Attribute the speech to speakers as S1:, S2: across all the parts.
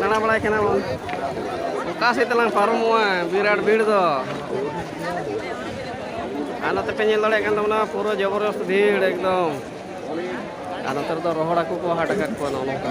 S1: ᱫᱟᱬᱟ ᱵᱟᱲᱟᱭ ᱠᱟᱱᱟ ᱵᱚᱱ ᱚᱠᱟ ᱥᱮᱫ ᱛᱮᱞᱟᱝ ᱯᱟᱨᱚᱢᱚᱜᱼᱟ ᱵᱤᱨᱟᱴ ᱵᱷᱤᱲ ᱫᱚ ᱟᱨ ᱱᱚᱛᱮ ᱯᱮ ᱧᱮᱞ ᱫᱟᱲᱮᱭᱟᱜ ᱠᱟᱱ ᱛᱟᱵᱚᱱᱟ ᱯᱩᱨᱟᱹ ᱡᱚᱵᱚᱨᱫᱚᱥᱛ ᱵᱷᱤᱲ ᱮᱠᱫᱚᱢ ᱟᱨ ᱱᱚᱛᱮ ᱨᱮᱫᱚ ᱨᱚᱦᱚᱲ ᱦᱟᱹᱠᱩ ᱠᱚ ᱦᱟᱴ ᱟᱠᱟᱫ ᱠᱚᱣᱟ ᱱᱚᱜᱼᱚ ᱱᱚᱝᱠᱟ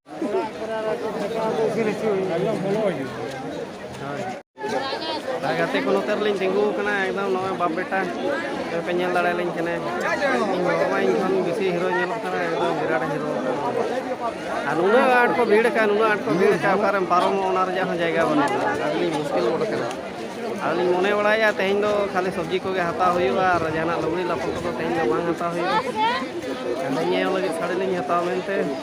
S1: ᱜᱟᱛᱮ ᱠᱚ ᱱᱚᱛᱮ ᱨᱮᱞᱤᱧ ᱛᱤᱸᱜᱩ ᱟᱠᱟᱱᱟ ᱮᱠᱫᱚᱢ ᱱᱚᱜᱼᱚᱭ ᱵᱟᱯ ᱵᱮᱴᱟ ᱯᱮ ᱧᱮᱞ ᱫᱟᱲᱮᱭᱟᱞᱤᱧ ᱠᱟᱱᱟ ᱤᱧ ᱵᱟᱵᱟ ᱢᱟ ᱤᱧ ᱠᱷᱚᱱ ᱵᱮᱥᱤ ᱦᱤᱨᱳ ᱧᱮᱞᱚᱜ ᱠᱟᱱᱟ ᱮᱠᱫᱚᱢ ᱵᱤᱨᱟᱴ ᱦᱤᱨᱳ ᱟᱨ ᱱᱩᱱᱟᱹᱜ ᱟᱸᱴ ᱠᱚ ᱵᱷᱤᱲ ᱟᱠᱟᱱ ᱱᱩᱱᱟᱹᱜ ᱟᱸᱴ ᱠᱚ ᱵᱷᱤᱲ ᱟᱠᱟᱱ ᱚᱠᱟᱨᱮᱢ ᱯᱟᱨᱚᱢᱚᱜ ᱚᱱᱟ ᱨᱮᱭᱟᱜ ᱦᱚᱸ ᱡᱟᱭᱜᱟ ᱵᱟᱹᱱᱩᱜᱼᱟ ᱟᱹᱰᱤᱞᱤᱧ ᱢᱩᱥᱠᱤᱞ ᱜᱚᱫ ᱟᱠᱟᱱᱟ ᱟᱹᱞᱤᱧ ᱢᱚᱱᱮ ᱵᱟᱲᱟᱭᱟ ᱛᱮᱦᱮᱧ ᱫᱚ ᱠᱷᱟᱹᱞᱤ ᱥᱚᱵᱽᱡᱤ ᱠᱚᱜᱮ ᱦᱟᱛᱟᱣ ᱦᱩᱭᱩᱜᱼᱟ ᱟᱨ ᱡᱟᱦᱟᱱᱟᱜ ᱞᱩᱜᱽᱲᱤ ᱞᱟᱯᱚ ᱠᱚᱫᱚ ᱛᱮᱦᱮᱧ ᱫᱚ ᱵᱟᱝ ᱦᱟᱛᱟᱣ ᱦᱩᱭᱩᱜᱼᱟ ᱟᱹᱞᱤᱧ ᱧᱮᱞ ᱞᱟᱹᱜᱤᱫ ᱥᱟᱹᱲᱤ ᱞᱤᱧ ᱦᱟᱛᱟᱣᱟ ᱢᱮᱱᱛᱮ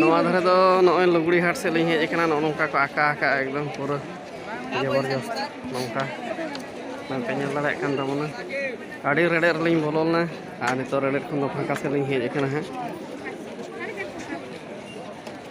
S1: ᱱᱚᱣᱟ ᱫᱷᱟᱨᱮ ᱫᱚ ᱱᱚᱜᱼᱚᱭ ᱞᱩᱜᱽᱲᱤ ᱦᱟᱴ ᱥᱮᱫ ᱞᱤᱧ ᱦᱮᱡ ᱟᱠᱟᱱᱟ ᱱᱚᱜᱼᱚ ᱱᱚᱝᱠᱟ ᱠᱚ ᱟᱸᱠᱟ ᱟᱠᱟᱜᱼᱟ ᱮᱠᱫᱚᱢ ᱯᱩᱨᱟᱹ ᱡᱚᱵᱚᱨᱡᱚᱥ ᱱᱚᱝᱠᱟ ᱱᱚᱝᱠᱟ ᱧᱮᱞ ᱫᱟᱲᱮᱭᱟᱜ ᱠᱟᱱ ᱛᱟᱵᱚᱱᱟ ᱟᱹᱰᱤ ᱨᱮᱰᱮᱫ ᱨᱮᱞᱤᱧ ᱵᱚᱞᱚ ᱞᱮᱱᱟ ᱟᱨ ᱱᱤᱛᱚᱜ ᱨᱮᱰᱮᱫ ᱠᱷᱚᱱ ᱫᱚ ᱯᱷᱟᱸᱠᱟ ᱥᱮᱫ ᱞᱤᱧ ᱦᱮᱡ ᱟᱠᱟᱱᱟ ᱦᱟᱸᱜ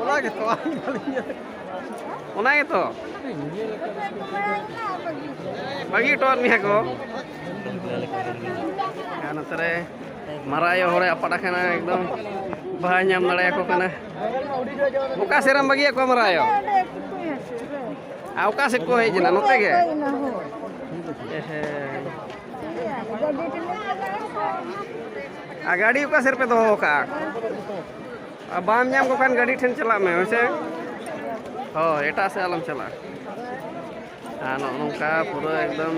S1: ᱚᱱᱟ ᱜᱮᱛᱚ ᱚᱱᱟ ᱜᱮᱛᱚ ᱵᱟᱹᱜᱤ ᱦᱚᱴᱚᱣᱟᱫ ᱢᱮᱭᱟ ᱠᱚ ᱟᱨ ᱱᱚᱛᱮ ᱨᱮ ᱢᱟᱨᱟᱜ ᱟᱭᱳ ᱦᱚᱲᱮ ᱟᱯᱟᱫ ᱟᱠᱟᱱᱟ ᱮᱠᱫᱚᱢ ᱵᱟᱭ ᱧᱟᱢ ᱫᱟᱲᱮᱭᱟᱠᱚ ᱠᱟᱱᱟ ᱚᱠᱟ ᱥᱮᱫ ᱨᱮᱢ ᱵᱟᱹᱜᱤᱭᱟᱫ ᱠᱚᱣᱟ ᱢᱟᱨᱟᱜ ᱟᱭᱳ ᱟᱨ ᱚᱠᱟ ᱥᱮᱫ ᱠᱚ ᱦᱮᱡ ᱮᱱᱟ ᱱᱚᱛᱮ ᱜᱮ ᱦᱮᱸ ᱟᱨ ᱜᱟᱹᱰᱤ ᱚᱠᱟ ᱥᱮᱫ ᱨᱮᱯᱮ ᱫᱚᱦᱚ ᱟᱠᱟᱜᱼᱟ ᱟᱨ ᱵᱟᱢ ᱧᱟᱢ ᱠᱚ ᱠᱷᱟᱱ ᱜᱟᱹᱰᱤ ᱴᱷᱮᱱ ᱪᱟᱞᱟᱜ ᱢᱮ ᱦᱮᱸᱥᱮ ᱦᱳᱭ ᱮᱴᱟᱜ ᱥᱮᱫ ᱟᱞᱚᱢ ᱪᱟᱞᱟᱜᱼᱟ ᱟᱨ ᱱᱚᱜᱼᱚ ᱱᱚᱝᱠᱟ ᱯᱩᱨᱟᱹ ᱮᱠᱫᱚᱢ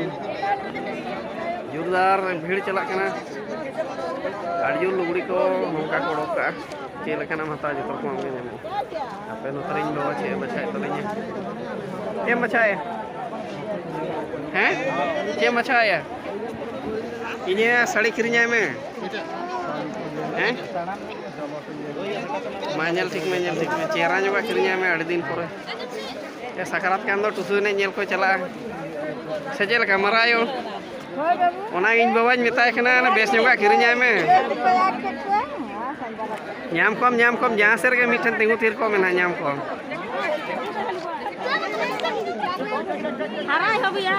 S1: ᱡᱳᱨᱫᱟᱨ ᱵᱷᱤᱲ ᱪᱟᱞᱟᱜ ᱠᱟᱱᱟ ᱟᱹᱰᱤ ᱡᱳᱨ ᱞᱩᱜᱽᱲᱤ ᱠᱚ ᱱᱚᱝᱠᱟ ᱠᱚ ᱚᱰᱚᱠ ᱠᱟᱜᱼᱟ ᱪᱮᱫ ᱞᱮᱠᱟᱱᱟᱜ ᱮᱢ ᱦᱟᱛᱟᱣᱟ ᱡᱚᱛᱚ ᱨᱚᱠᱚᱢᱟᱜ ᱜᱮ ᱧᱟᱢᱚᱜᱼᱟ ᱟᱯᱮ ᱱᱚᱛᱮ ᱨᱮᱧ ᱵᱟᱵᱟ ᱪᱮᱫ ᱮ ᱵᱟᱪᱷᱟᱣᱮᱫ ᱛᱟᱹᱞᱤᱧᱟ ᱪᱮᱫ ᱮᱢ ᱵᱟᱪᱷᱟᱣᱮᱫᱼᱟ ᱦᱮᱸ ᱪᱮᱫ ᱮᱢ ᱵᱟᱪᱷᱟᱣᱮᱫᱼᱟ ᱤᱧᱟᱹᱜ ᱥᱟᱹᱲᱤ ᱠᱤᱨᱤᱧᱟᱭ ᱢᱮ ᱦᱮᱸ ᱢᱟ ᱧᱮᱞ ᱴᱷᱤᱠ ᱢᱮ ᱧᱮᱞ ᱴᱷᱤᱠ ᱢᱮ ᱪᱮᱦᱨᱟ ᱧᱚᱜᱟᱜ ᱠᱤᱨᱤᱧᱟᱭ ᱢᱮ ᱟᱹᱰᱤ ᱫᱤᱱ ᱯᱚᱨᱮ ᱥᱟᱠᱨᱟᱛ ᱠᱟᱱ ᱫᱚ ᱴᱩᱥᱩ ᱮᱱᱮᱡ ᱧᱮᱞ ᱠᱚ ᱪᱟᱞᱟᱜᱼᱟ ᱥᱮ ᱪᱮᱫ ᱞᱮᱠᱟ ᱢᱟᱨᱟᱭᱚ ᱚᱱᱟ ᱤᱧ ᱵᱟᱵᱟᱧ ᱢᱮᱛᱟᱭ ᱠᱟᱱᱟ ᱵᱮᱥ ᱧᱚᱜᱟᱜ ᱠᱤᱨᱤᱧᱟᱭ ᱢᱮ ᱧᱟᱢ ᱠᱚᱢ ᱧᱟᱢ ᱠᱚᱢ ᱡᱟᱦᱟᱸ ᱥᱮᱫ ᱨᱮᱜᱮ ᱢᱤᱫᱴᱷᱮᱱ ᱛᱤᱸᱜᱩ ᱛᱷᱤᱨ ᱠᱚᱜ ᱢᱮᱱᱟ ᱧᱟᱢ ᱠᱚᱢ ᱦᱟᱨᱟᱭ ᱦᱚᱵᱤᱭᱟ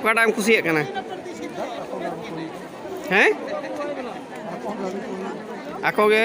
S1: ᱚᱠᱟᱴᱟᱜ ᱮᱢ ᱠᱩᱥᱤᱭᱟᱜ ᱠᱟᱱᱟ ᱦᱮᱸ ᱟᱠᱚ ᱜᱮ